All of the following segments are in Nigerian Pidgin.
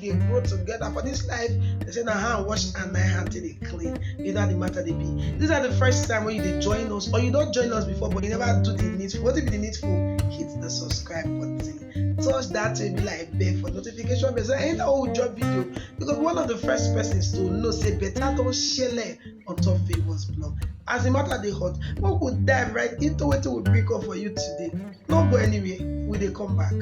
dey grow together for this life they say na hand wash and na hand take dey clean you know how the matter dey be this na the first time wey you dey join us or you don join us before but you never do the needful wetin be the needful hit the subscribe button touch that baby like bell for notification bell so anytime wey we drop video you go be one of the first persons to know say better don shele on top favours blog as the matter dey hot make we dive right into wetin we bring come for you today no go anywhere we dey come back.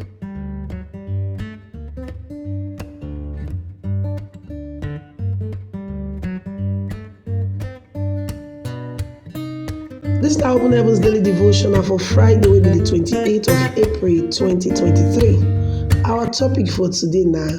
This is Open Heavens Daily Devotional for Friday, will be the 28th of April 2023. Our topic for today now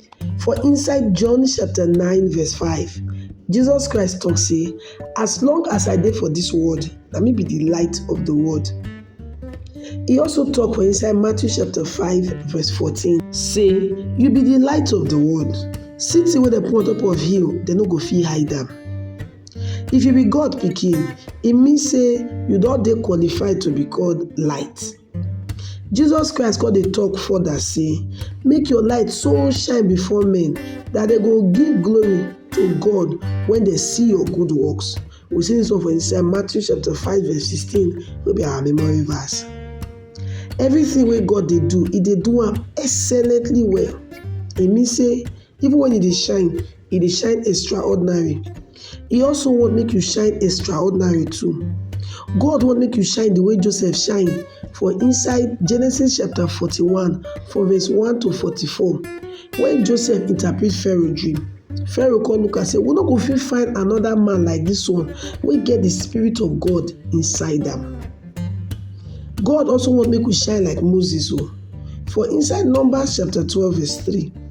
For inside John chapter 9 verse 5, Jesus Christ talk say, as long as I dey for this world, na me be the light of the world. He also talk for inside Matthew chapter 5 verse 14, say, you be the light of the world. City wey dem put on top of hill, dem no go fit hide am. If you be God pikin, e mean say you don dey qualified to be called light. Jesus Christ come dey talk further say, Make your light so shine before men that they go give glory to God when they see your good works. We see this one for inside Matthew chapter 5, verse 16, will be our memory verse. Everything where God they do, He they do am excellently well. It means say Even when e dey shine, e dey shine extraordinary. E also want make you shine extraordinary too. God want make you shine the way Joseph shine for inside Genesis chapter forty-one from verse one to forty-four. When Joseph interpret Pharaoh dream, Pharaoh come look am say, we no go fit find another man like this one wey get the spirit of God inside am. God also want make we shine like Moses o. Oh. For inside Numbers chapter twelve verse three.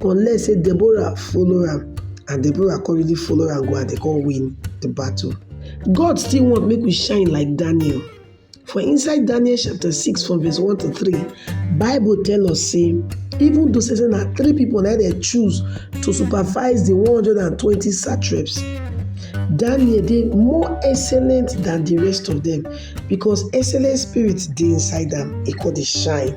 unless say Deborah follow am and Deborah come really follow am go and they come win the battle. God still want make we shine like Daniel. For inside Daniel chapter 6 from verse 1 to 3, Bible tell us say even though say na three people na dey choose to supervise the 120 satraps, Daniel dey more excellent than the rest of them because excellent spirit dey inside am, e come dey shine.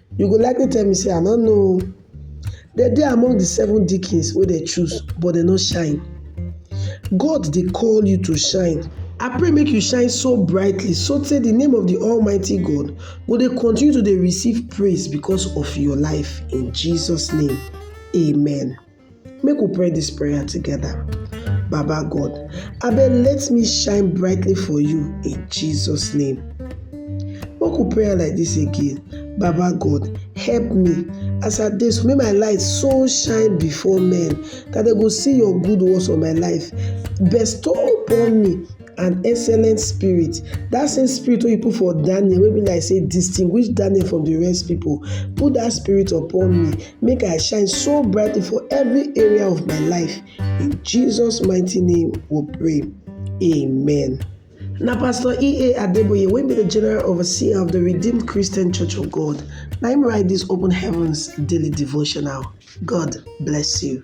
You go likely tell me say I no know oo. Dem dey among the seven deacons wey dem choose but dem no shine. God dey call you to shine. I pray make you shine so brightly so tey the name of the almighty God go dey continue to dey receive praise because of your life in Jesus name, amen. Make we pray dis prayer together. Baba God, abeg let me shine brightly for you in Jesus name. Make we pray like dis again. Baba God, help me as I dey so make my light so shine before men that dem go see your good works for my life. Bestow upon me and excellent spirit that same spirit wey you put for daniel wey be like say distinguish daniel from the rest people put that spirit upon me make i shine so brightly for every area of my life in jesus mighty name we pray amen. na pastor ea adeboye wey be the general overseer of the redeemed christian church of god na him write this open heavens daily devotional god bless you.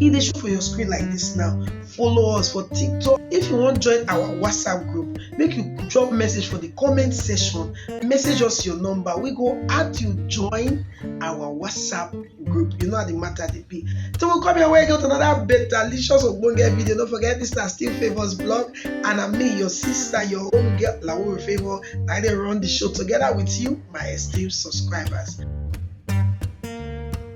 e dey show for your screen like this now follow us for tiktok if you wan join our whatsapp group make you drop message for the comment section message us your number we go add you join our whatsapp group you know how the matter dey be till we come your way get another better licious ogbonge video no forget this na still favours blog and na me your sister your own girl lawore favour na i dey run the show together with you my esteemed subscribers.